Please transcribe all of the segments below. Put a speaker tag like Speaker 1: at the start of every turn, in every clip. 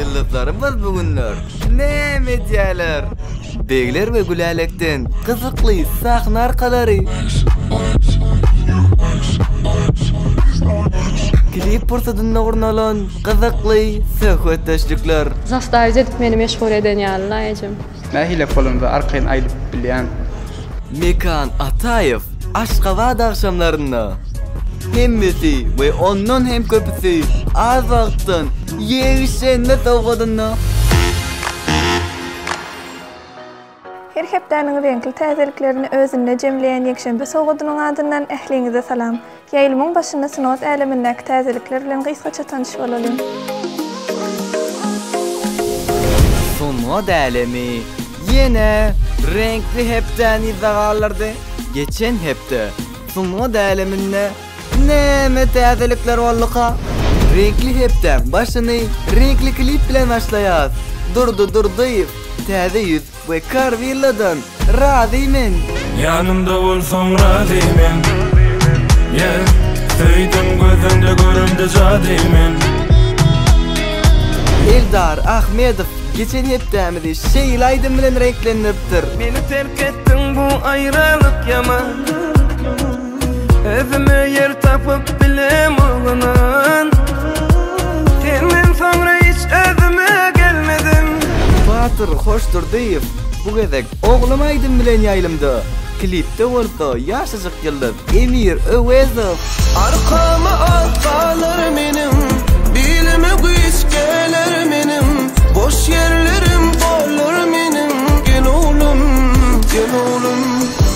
Speaker 1: Ýyldyzlarymyz bu günler näme edýärler? Begler we Gülälekden gyzykly sahna arkalary. Klip pursatynda gurnalan gyzykly söhbetdeşlikler. Zastavit edip
Speaker 2: meni meşgul eden ýaly-la ejem. Nähili polonca
Speaker 3: arkaýyn aýdyp bilýän. Mekan
Speaker 1: Ataýew Aşgabat agşamlarynda Hemmesi we ondan hem köpüsi az wagtdan ýegişlenme sowgadynda.
Speaker 4: Her hepdäniň reňkli täzeliklerini özünde jemleýän ýekşenbe sowgadynyň adyndan ähliňize salam. Ýaýlymyň başynda sungat älemindäki täzelikler bilen gysgaça tanyş bolalyň.
Speaker 1: Sungat älemi ýene reňkli hepdäni yza galdyrdy. Geçen hepde sungat äleminde näme täzelikler bolduka? Reňkli hepdäň başyny reňkli klip bilen başlaýarys. Durdy Durdyýew, Täze ýüz. We kar villadan razy men. Ýanymda
Speaker 5: bolsaň razy men yeah Söýdüm gözüňde göremde jady men.
Speaker 1: Eldar Ahmedow geçen hepdämizi şeýle aýdym bilen reňklendiripdir. Meni terk
Speaker 6: etdiň bu aýralyk ýaman. Özüme ýer tapyp bilem oglan Senden soňra hiç özüme gelmedim Batyr
Speaker 1: Hoşdurdyýew bu gezek Oglum aýdym bilen ýaýlymda, klipde bolsa ýaşajyk ýyldyz Emir Öwezow. Arkama
Speaker 6: at galar meniň, bilime güýç geler meniň, boş ýerlerim dolar meniň, gel oglum, gel oglum.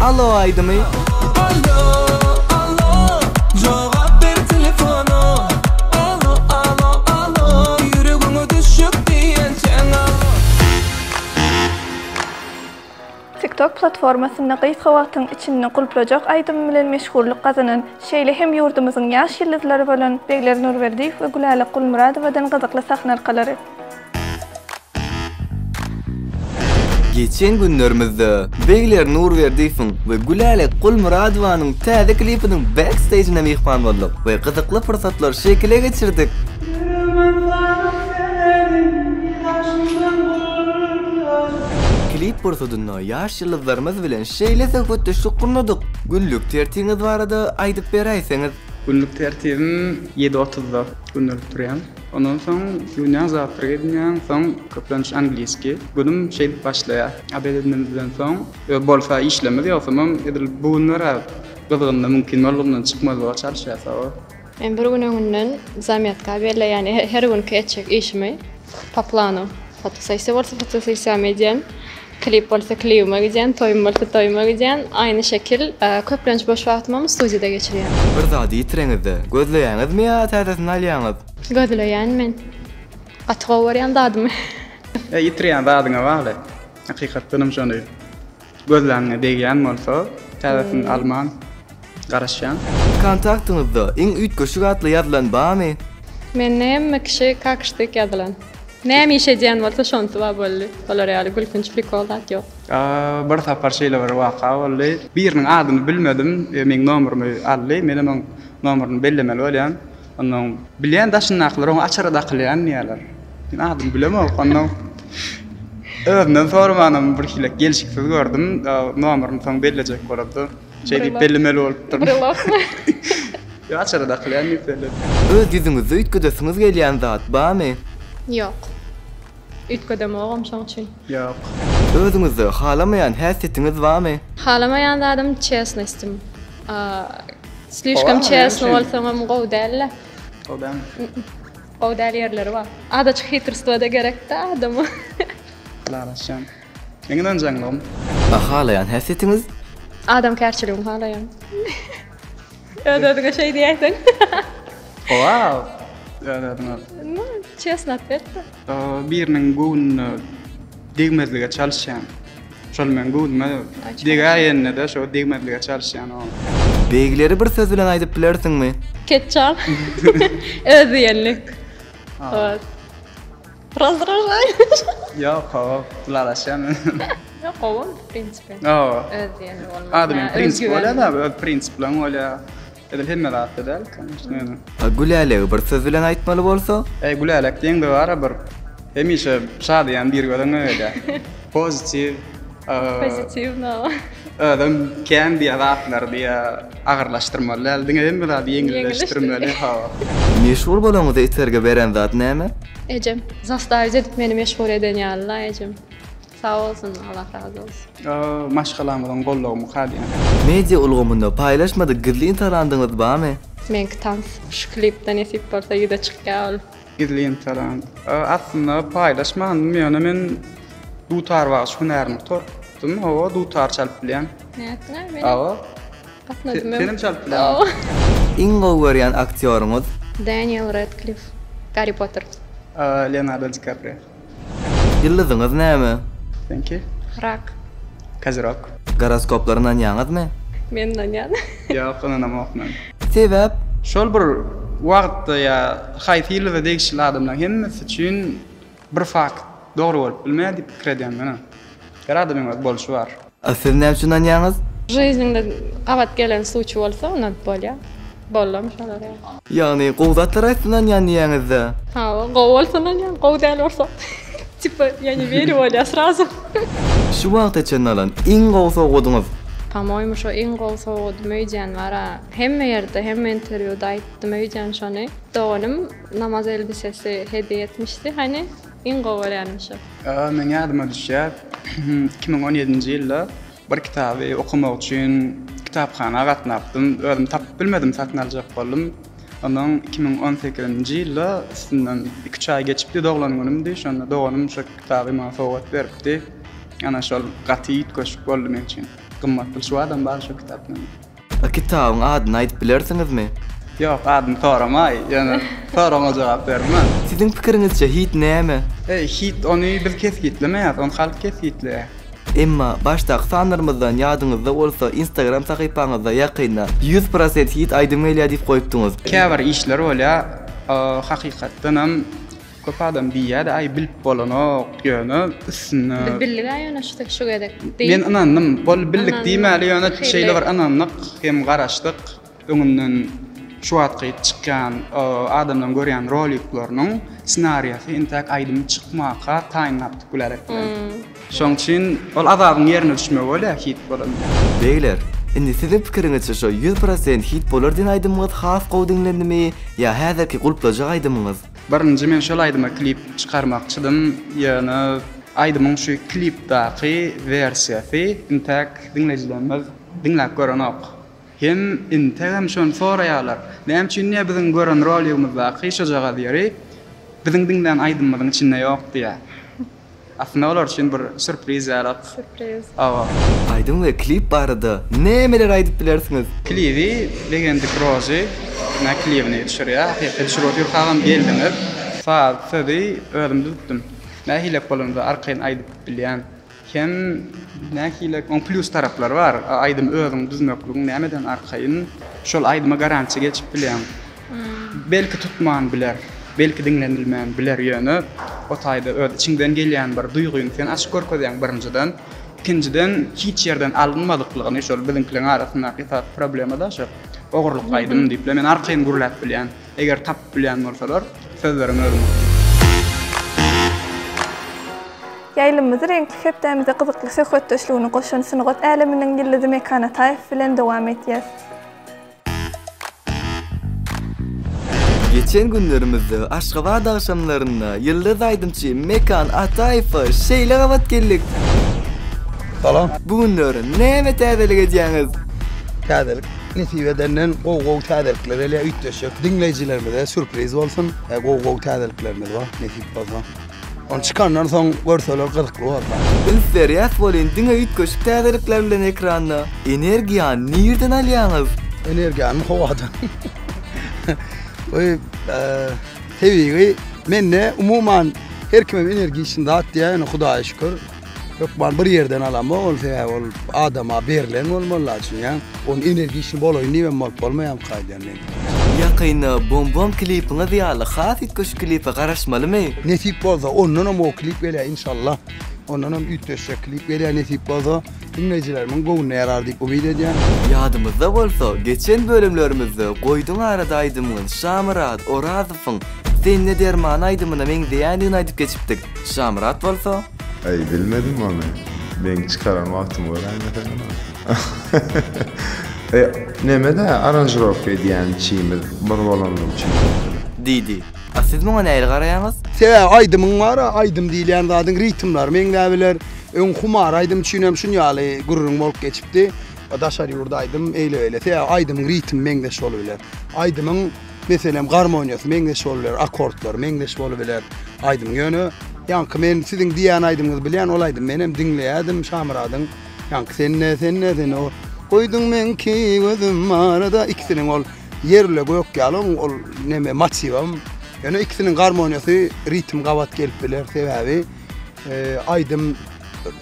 Speaker 1: Allo aýdymy.
Speaker 4: TikTok platformasynda gysga wagtyň içinde Gulplajak aýdymy bilen meşhurlyk gazanan, şeýle hem ýurdumyzyň ýaş ýyldyzlary bolan Begler Nurberdiýew we Gülälek Gulmyradowadan gyzykly sahna arkalary.
Speaker 1: Geçen günlerimizde Begler Nurberdiýewiň we Gülälek Gulmyradowanyň täze klipiniň backstage'ine myhman bolduk we gyzykly pursatlary şekile geçirdik. Klip pursatynda ýaş ýyldyzlarymyz bilen şeýle söhbetdeşlik gurnadyk. Günlük tertiňiz barada aýdyp beräýseňiz? Günlük tertibim
Speaker 3: ýedi otuzda gönelip durýan. Ondan soň günäň zawtrag edinýäň, soň köplenç angliski. Günüm şeýdip başlaýar. Obed edinimizden soň ýa bolsa işlemez ýogsamam edil bu günler gyzgynda mümkin boldugyndan çykmazlyga çalyşýas hawa. Men bir gün
Speaker 2: öňünden zamýatka belleýän her günki etjek işimi po planu. Fotosessiýa bolsa fotosessiýamy edýän. Klip bolsa klibime gidýän, toýum bolsa toýuma gidýän, aýny şekil. Köplenç boş wagtymam studiýada geçirýän. Bir zady ýitireňizde,
Speaker 1: gözleýäňizmi ýa täzesini alýaňyz? Gözleýän men.
Speaker 2: Gaty gowy görýän zadymy. E, ýitirýän
Speaker 3: zadyňa bagly. Hakykatdanam şony gözläňňe degýän bolsa, täzesini alman. garaşýan. Siziň kontaktyňyzda
Speaker 1: iň üýtgeşik atly ýazylan bamy? Mende hemme
Speaker 2: kişi kakştyk ýazylan. Näme iş edýän bolsa şonsy bar boldy. Olar ýaly gülkünç prikol zat ýok. Bir sapar
Speaker 3: şeýle bir waka boldy. Biriniň adyny bilmedim we meň nomerymy aldy. Menem oň nomeryny bellemeli bolýan. Onda oň bilýän daşyndakylar oňa açara dakylýan diýýärler. Men adyny bilemok. Onda özünden soramanam birhili gelşiksiz gördüm. Nomeryny soň bellejek bolupdy. Şeý diýip bellemeli bolupdyryn. Brylokmy? Ýok, açara dakylýan diýip belledim. Öz ýüzüňizde
Speaker 1: üýtgedesiňiz gelýän zat barmy? Ýok.
Speaker 2: Üýtgedemogam şoň üçin. Ýok.
Speaker 3: Özüňizde
Speaker 1: halamaýan häsiýetiňiz barmy? Halamaýan zadym
Speaker 2: çesnostim. Slişkom çesno bolsaňam gowy däl-le. Gowy
Speaker 3: dälmi? Gowy
Speaker 2: däl ýerleri bar. Azajyk hitrstwa-da gerek-dä adama. Ylalaşýan.
Speaker 3: Meň ynanjaňlygym. A halaýan
Speaker 1: häsiýetiňiz. Adamkärçiligim
Speaker 2: halaýan. Öz özüňe şeý diýäýseň. Wow!
Speaker 3: Öz özüňe. No, çesno
Speaker 2: otwet-da. Biriniň
Speaker 3: göwnüne degmezlige çalyşýan. Şol meň göwnüme degäýende-de şo degmezlige çalyşýan o. Begleri
Speaker 1: bir söz bilen aýdyp bilersiňmi? Ketçap.
Speaker 2: Özdiýenlik. Ot.
Speaker 3: Ýok gowy ylalaşýan men. Ýok
Speaker 2: gowy ol prinsipi. Hawa. Öz diýeni bolmak. Adamyň prinsipi bolýar
Speaker 3: da öz prinsipleň bolýar. Edil hemme zatda däl kanyşna ýöne. A Gülälegi bir
Speaker 1: söz bilen aýtmaly bolsa? Eý Gülälek diýeňde
Speaker 3: bara bir hemişe şadyýan bir gözüňe gelýär. Pozitiw. Pozitiw
Speaker 2: no. Özem
Speaker 3: kän diýýär zatlary diýýär. Agyrlaşdyrmaly däl diňe hemme zady ýeňilleşdirmeli hawa. Meşhur
Speaker 1: bolaňyza itergi beren zat näme? Ejem.
Speaker 2: Zastawic edip meni meşhur eden ýaly la ejem. Sag bolsun Allah razy bolsun. Maşgalamyzyň goldawy
Speaker 3: mukaddim. Media ulgamynda
Speaker 1: paýlaşmadyk gizlin talandyňyz bamy? Meňki tans.
Speaker 2: Şu klipde nesip bolsa ýüze çykýar ol. Gizli Instagram.
Speaker 3: Aslynda paýlaşmandym, ýöne men dutar bagşy hünärini gutardym. Hawa, dutar çalyp bilýän. Nätdiňä meni?
Speaker 2: Hawa.
Speaker 3: Gatnadym.
Speaker 2: Senem çalyp
Speaker 3: bilýäňmi? Iň gowy
Speaker 1: görýän aktýoryňyz? Daniel
Speaker 2: Radcliffe, Garri Potter. Leonardo
Speaker 3: DiKaprio. Ýyldyzyňyz
Speaker 1: näme? Seňki?
Speaker 3: Rak.
Speaker 2: Kozirok.
Speaker 3: Goroskoplara
Speaker 1: ynanýaňyzmy? Men ynanýan.
Speaker 2: Ýok, ynanamok
Speaker 3: men. Sebäp?
Speaker 1: Şol bir
Speaker 3: wagtda ýa haýsy ýyldyza degişli adamlaň hemmesi üçin bir fakt dogry bolup bilmeýär diýip pikir edýän men. Her adamyň öz bolşy bar. A siz näme üçin
Speaker 1: ynanýaňyz? Žizniňde
Speaker 2: gabat gelen suçi bolsa ynanyp bolýa. Bollam şolar ýaly. Ýagny gowy zatlara
Speaker 1: aýtsyn ynanýan diýýäňizda. Hawa gowy
Speaker 2: bolsa ynanýan gowy däl bolsa tipa ýa ne weri bolýa srazu. Şu wagta
Speaker 1: çenli alan iň gowy sowgadyňyz? Pomoýmy şo
Speaker 2: iň gowy sowgadym öýdýän bara. Hemme ýerde hemme interwýuda aýtdym öýdýän şony. Doganym namaz elbisesi hediýe etmişdi hany. Iň gowy görýänim şu. Meň ýadyma
Speaker 3: düşýär, iki müň on ýedinji ýylda bir kitaby okamak üçin kitaphana gatnapdym. Özüm tapyp bilmedim, satyn aljak boldum. Onsoň iki müň on sekizinji ýylda üstünden iki-üç aý geçipdi, doglan günümdi. Şonda doganym şu kitaby maňa sowgat beripdi. Ana, şol gaty üýtgeşik boldy meň üçin. Gymmat pul şu adam bar şu kitapdan. A kitabyň
Speaker 1: adyny aýdyp bilersiňizmi? Ýok, adyny
Speaker 3: soramaý, ýöne soragyňa jogap bermän. Siziň pikiriňizçe
Speaker 1: hit näme? E, hit ony
Speaker 3: biz kesgitlemeýäs, ony halk kesgitleýär. Emma
Speaker 1: başdaky sanlarymyzdan ýadyňyzda bolsa instagram sahypaňyzda ýakynda ýüz prosent hit aýdym gelýär diýip goýupdyňyz. Käbir işler
Speaker 3: bolýar, hakykatdanam. Köp adam diýýärdi, aý bilip bolanok, ýöne üstünde. Biz bildiga ýöne şu
Speaker 2: şu gezek. Men ynandym.
Speaker 3: Boldy bildik diýmäli ýöne şeýle bir ynandyk hem garaşdyk. Öňünden şu wagtky çykýan adamlaryň görýän roliklarynyň ssenariýasy intäk aýdymy çykmaka taýynlapdyk Gülälek bilen. Şoň üçin ol Azabyň ýerine düşmegi bolýar hit bolan. Beýler,
Speaker 1: indi siziň pikiriňizçe şo ýüz prosent hit bolar diýen aýdymyňyz has gowy diňlendimi ýa häzirki gulplajak aýdymyňyz? Birinji men şol
Speaker 3: aýdyma klip çykarmakçydym, ýöne aýdymyň şu klipdaky wersiýasy intäk diňleýjilerimiz diňläp görenok. Hem integem şony soraýarlar, näme üçin diýýär biziň gören roligimizdaky şojagaz ýeri biziň diňlän aýdymymyzyň içinde ýok diýýär. Aslynda olar üçin bir surpriz ýalyk. Surpriz. Owo.
Speaker 2: Aýdym
Speaker 3: we klip
Speaker 1: barada nämeler aýdyp bilersiňiz? Klibi
Speaker 3: Legendy Prozy na klibini düşürýär. Hakyky düşürip ýurkagam geldiňiz. Saz, sözi özüm düzüpdim. Nähilek bolanda arkaýyn aýdyp bilýän. Hem nähilek oň plýus taraplary bar. Aýdymy özüň düzmekligiň nämeden arkaýyn. Şol aýdyma garantiýa geçip bilýäň. Belki tutman biler, belki diňlenilmän biler ýöne o taýda öz içiňden gelýän bir duýgyňy sen açyp görkezýäň birinjiden. Ikinjiden hiç ýerden alynmadyklygyny şol biziňkileriň arasyndaky esasy problema-da şo ogurlyk aýdym diýip-le men arkaýyn gürläp bilýän. Eger tapyp bilýän bolsalar sözleriň özüňki.
Speaker 4: Ýaýlymymyzy reňkli hepdämize gyzykly söhbetdeşligini goşan sungat äleminiň ýyldyzy Mekan Ataýew bilen dowam edýäs.
Speaker 1: Geçen günlerimizde Aşgabat agşamlarynda ýyldyz aýdymçy Mekan Ataýewe şeýle gabat geldik.
Speaker 7: Salam. Bu günler
Speaker 1: näme täzelik edýäňiz? Täzelik
Speaker 7: nesip edenden gowy-gowy täzelikler gelýär üýtgeşik. Diňleýjilerimize sýurpriz bolsun. Gowy-gowy täzeliklerimiz bar nesip bolsa. Ony çykandan soň görseler gyzykly bolsa. Üns berýäs
Speaker 1: welin diňe üýtgeşik täzelikler bilen ekranda. Energiýany nirden alýaňyz? Energiýany
Speaker 7: howadan. Bu tebigy mende umuman her kimem energiçni zat diýýär ýöne Hudaýa şükür. Hökman bir ýerden alamok ol sebäbi ol adama berlen bolmaly la düşünýäň. Ony energiçni bolaýyn diýibem bolup bolmaýamok aýdýan men. Ýakynda
Speaker 1: Bom Bom klipiňiz ýaly has üýtgeşik klipe garaşmalymy? Nesip bolsa ondanam
Speaker 7: gowy klip gelýär inşallah. Ondanam üýtgeşjek klip gelýär nesip bolsa. Diňleýjilerimiň göwnüne ýarar diýip umyt edýän. Ýadyňyzda bolsa
Speaker 1: geçen bölümlerimizde goýduň arada aýdymyňyz Şamyrat Orazowyň Sende derman aýdymyna meňzeýändigini aýdyp geçipdik. Şamyrat bolsa. Aý bilmedim
Speaker 8: ony. Meň çykaran wagtymy göräýme sen ony. E, neme-dä aranžirowka edýän içimiz bir bolany üçin. Diýdi.
Speaker 1: A siz muňa nähili garaýaňyz? Sebäbi aýdymyň bar-a,
Speaker 7: aýdym diýilýän zadyň ritmlary meňzäp biler. Öň Humar aýdym üçin hem şun ýaly gürrüň bolup geçipdi. Daşary ýurda aýdym eýle-beýle. Sebäbi aýdymyň ritmi meňzeş bolup biler. Aýdymyň Meselem, garmoniýasy meňzeş bolubiler, akkordlary meňzeş bolubiler aýdymyň. Ýöne, ýaňky men siziň diýýän aýdymyňyzy bilýän, ol aýdymy menem diňleýädim, Şamyradyň ýaňky Senne, senne, senne o, Goýduň meňki gözüm arada, ikisiniň ol ýerle gök ýaly oň ol neme motiwam. Ýöne ikisiniň garmoniýasy, ritm gabat gelip biler, sebäbi aýdym,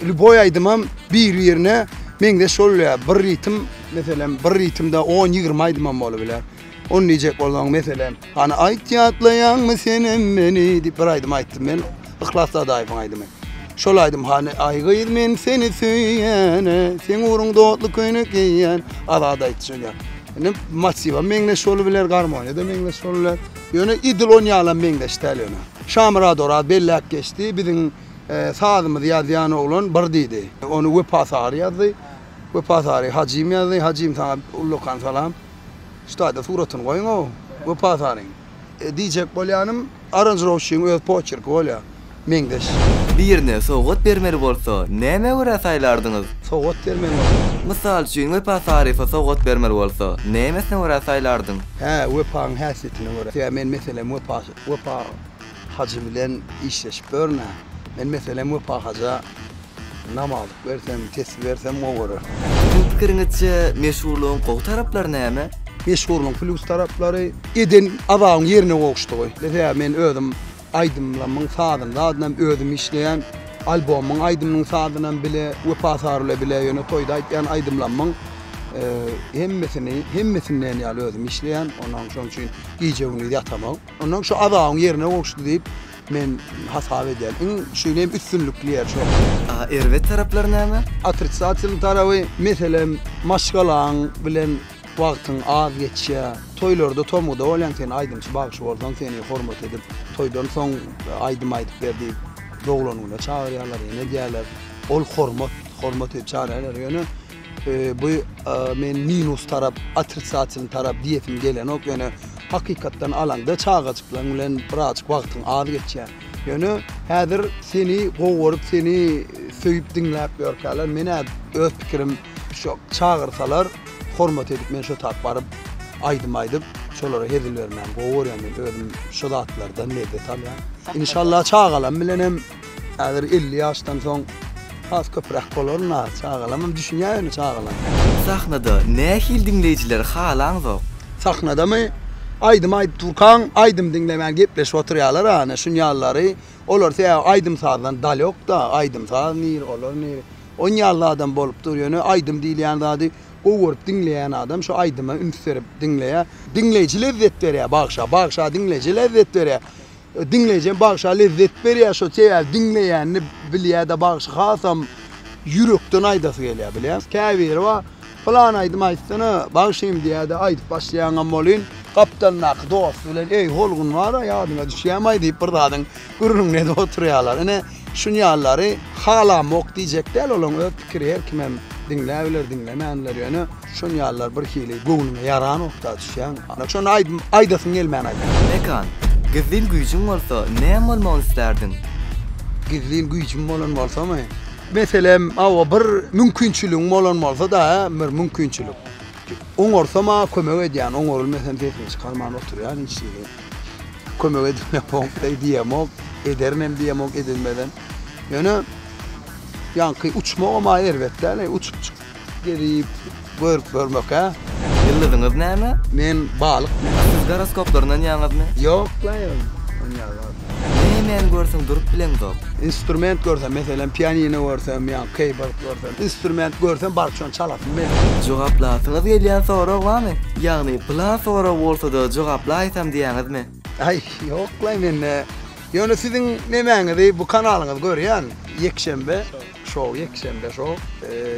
Speaker 7: lýuboý aýdymam bir-birine meňzeş bolubilýär. Bir ritm, meselem, bir ritmde on-ýigrimi aýdymam bolubiler. Ony diýjek bolsaň meselem, Hany aýt ýatlaýaňmy senem meni diýip bir aýdym aýtdym men. Yhlas Dadaýewiň aýdymy. Şol aýdym Hany aý gyz men seni söýýäne, seň ugruň dotly köýnek geýýän. Azat aýtjak ýa. Indi motiwem meňzeş bolubiler, garmoniýa-da meňzeş bolubiler. Ýöne idil on ýalam meňzeş däl ýöne. Şamyrat Oraz belläp geçdi, biziň sazymyzy ýazýan oglan bir diýdi. Ony Wepa Sary ýazdy. Wepa Sary Hajym ýazdy. Hajym saňa ullakan salam. Şu taýda suratyny goýuň-ow, Wepa Saryň. Diýjek bolýanym, aranžirowçynyň öz poçerki bolýar, meňzeş. Birine
Speaker 1: sowgat bermeli bolsa, nämä görä saýlardyňyz? Sowgat bermeli bolsa.
Speaker 7: Mysal üçin,
Speaker 1: Wepa Saryfa sowgat bermeli bolsa, nämesine görä saýlardyň? Hä, Wepaň
Speaker 7: häsiýetine görä. Sebäbi men, meselem, Wepa, Wepa hajy bilen işleşip ýörün-ä. Men, meselem, Wepa haja Namalyk bersem, tesbi bersem gowarar. Siziň pikiriňizçe,
Speaker 1: meşhurlygyň gowy taraplary näme? Meşhurlygyň plýus
Speaker 7: taraplary, eden azabyň ýerine gowuşdygy. Meselem, men özüm aýdymlarymyň sazyny, zadynam özüm işleýän. Albomyň aýdymynyň sazynam bile, Wepa Sary bilen bile, ýöne toýda aýtýan aýdymlarymyň hemmesini, hemmesini diýen ýaly özüm işleýän. Ondan şonuň üçin gije-gündiz ýatamok. Ondan şu azabyň ýerine gowuşdy diýip, Men hasap edýän iň şeýle hem üstünlikli ýer şo. A erbet taraplary
Speaker 1: näme? Otrisatel taraby
Speaker 7: meselem maşgalaň bilen wagtyň az geçýä. Toýlarda tomguda bolýaň sen aýdymçy bagşy bolsaň seni hormat edip toýdan soň aýdym aýdyp ber diýip doglan güne çagyrýalar ýene edýäler. Ol hormat, hormat edip çagyrýalar ýöne Bu men minus tarap, otrisatilny tarap diýesim gelenok, ýöne hakykatdan alanda çagajyklaň bilen birazjyk wagtyň az geçýär. Ýöne häzir seni gowy görüp, seni söýüp diňläp ýörkäler, men-ä öz pikirim şu çagyrsalar, hormat edip men şotap baryp, aýdym aýdyp, şolara hezil bermäni gowy görýän men özüm şu zatlardan lezzet alýan. Inşallah çagalam bilenem. Häzir elli ýaşdan soň has köpräk bolaryn-a, çagalamam düşünýär ýöne çagalam. Sahnada
Speaker 1: nähili diňleýjileri halaňzok? Sahnadamy?
Speaker 7: Aýdym aýdyp durkaň, aýdym diňlemän gepleşip oturýarlar-a, ine şunýalylary. Olar sebäbi aýdym-sazdan dalýok-da, aýdym-saz nir, olar nir. Onýaly adam bolup dur, ýöne aýdym diýilýän zady gowy görüp diňleýän adam şu aýdyma üns berip diňleýär. Diňleýji lezzet berýär bagşa, bagşa diňleýjä lezzet berýär. Diňleýjem bagşa lezzet berýär şo sebäbi diňleýänini bilýädä bagşy hasam ýürekden aýdasy gelýär bilýäňmi käbiri bar pylan aýdym aýtsana bagşym diýädä aýdyp başlaýaňam bolyn gapdalyndaky dosty bilen eý holgun bara ýadyňa düşýämaý diýip bir zadyň gürrüňini edip oturýarlar ine şunýallary halamok diýjek däl olaň öz pikiri her kimem diňläbiler diňlemänler ýöne Şun ýalylar bir hili göwnüňe ýaran okda düşýäň. Ana şun aýdym aýdasyň gelmän aýt. Mekan,
Speaker 1: gizlin güýjüň bolsa näme bolmagyny islärdiň? Gizlin
Speaker 7: güýjüm bolan bolsamy? Meselem, hawa bir mümkinçiligiň bolan bolsada, bir mümkinçilik. Oňarsam maňa kömek edýän, oňarylmesem sesimi çykarman oturýan hiç hili. Kömek edilmemok deý diýemok, ederin hem diýemok edilmeden. Ýöne ýaňky uçmagam aý erbet däl-eý, uçup çyk. Gelip görüp görmek he. Ýyldyzyňyz näme?
Speaker 1: Men balyk. Siz goroskoplar
Speaker 7: ynanýaňyzmy?
Speaker 1: Ýok la ýol
Speaker 7: ynanýarlar.
Speaker 1: Nämäni görseň durup bileňzok. Instrument görsem
Speaker 7: meselem pianino görsem ýa keýbord görsem instrument görsem baryp şony çalasym gelýär. Jogaplasymyz
Speaker 1: gelýän sorag bamy? Ýagny pylan sorag bolsada jogaplaýsam diýýäňizmi? Aý
Speaker 7: ýoklaý mende. Ýöne siziň nemäňizi bu kanalyňyzy görýän ýekşenbe. Şou ýekşenbe şou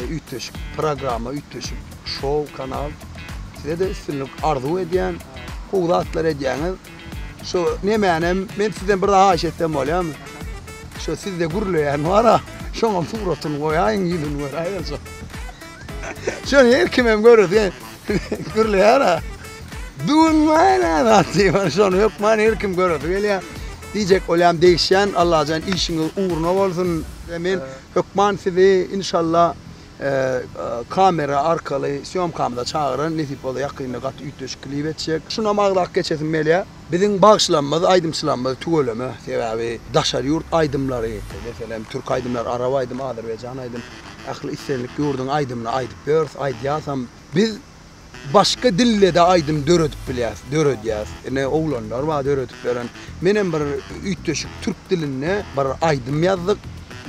Speaker 7: üýtgeşik programma üýtgeşik şou kanal sizede üstünlik arzuw edýän gowy zatlar edýäňiz şu nemänem men sizden bir haýyş etsem bolýamy şu sizde gürleýän bara şoňam suratyny goýaýyň ýüzüni göräýeljek şony her kimem görese Gürleýär-ä. Düwün maýyl-ä zat diýip, ýöne şony hökman her kim göresi gelýär. Diýjek bolýan degişýän, Allajan işiňiz ugruna bolsun. Men hökman sizi inşalla kamera arkaly sýomkamyza çagyran, nesip bolsa ýakynda gaty üýtgeşik klip etjek. Şunam agzap geçesim gelýär. Biziň bagşylarymyz, aýdymçylarymyz tüweleme, sebäbi daşary ýurt aýdymlary, meselem, türk aýdymlary, arap aýdymy, azerbaýjan aýdym, ähli islendik ýurduň aýdymyny aýdyp ýörüs, aýdýasam. Biz başga dilde-de aýdym döredip bilýäs, döredýäs. Ine, oglanlar bar döredip beren. Menem bir üýtgeşik türk dilinde bir aýdym ýazdyk,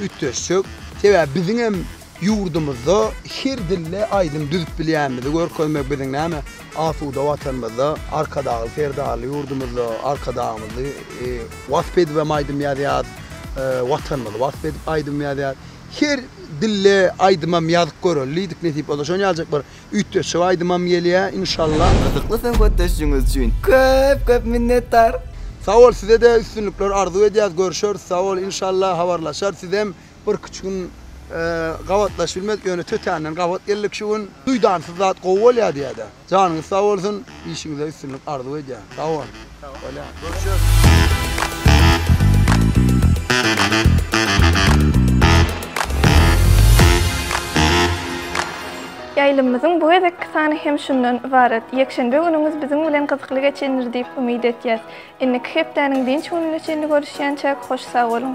Speaker 7: üýtgeşjek. Sebäbi biziňem Ýurdumyzda her dilde aýdym düzüp bilýänimizi görkezmek biziň näme asuda Watanymyzda Arkadagly Serdarly ýurdumyzda Arkadagymyzy wasp edibem aýdym ýazýas, Watanymyzy wasp edip aýdym ýazýas. Her dilde aýdymam ýazyp göreli diýdik nesip bolsa şony ýazjak bir üýtgeşik aýdymam gelýä inşallah. Gyzykly söhbetdeşligiňiz
Speaker 1: üçin köp köp minnetdar. Sag bol size-de
Speaker 7: üstünlikler arzuw edýäs görüşeris sag bol inşallah habarlaşar sizem Birki üç gün gabatlaşyp bilmedik ýöne tötänden gabat geldik şu gün. Duýdansyz zat gowy bolýar diýädä. Janyňyz sag bolsun, işiňizde üstünlik arzuw edýän. Sag boluň. Bolýar.
Speaker 4: Ýaýlymymyzyň bu gezekki sany hem şundan ybarat. Ýekşenbe günüňiz biziň bilen gyzykly geçendir diýip umyt etýäs. Indiki hepdäniň dynç gününe çenli görüşýänçäk hoş sag boluň.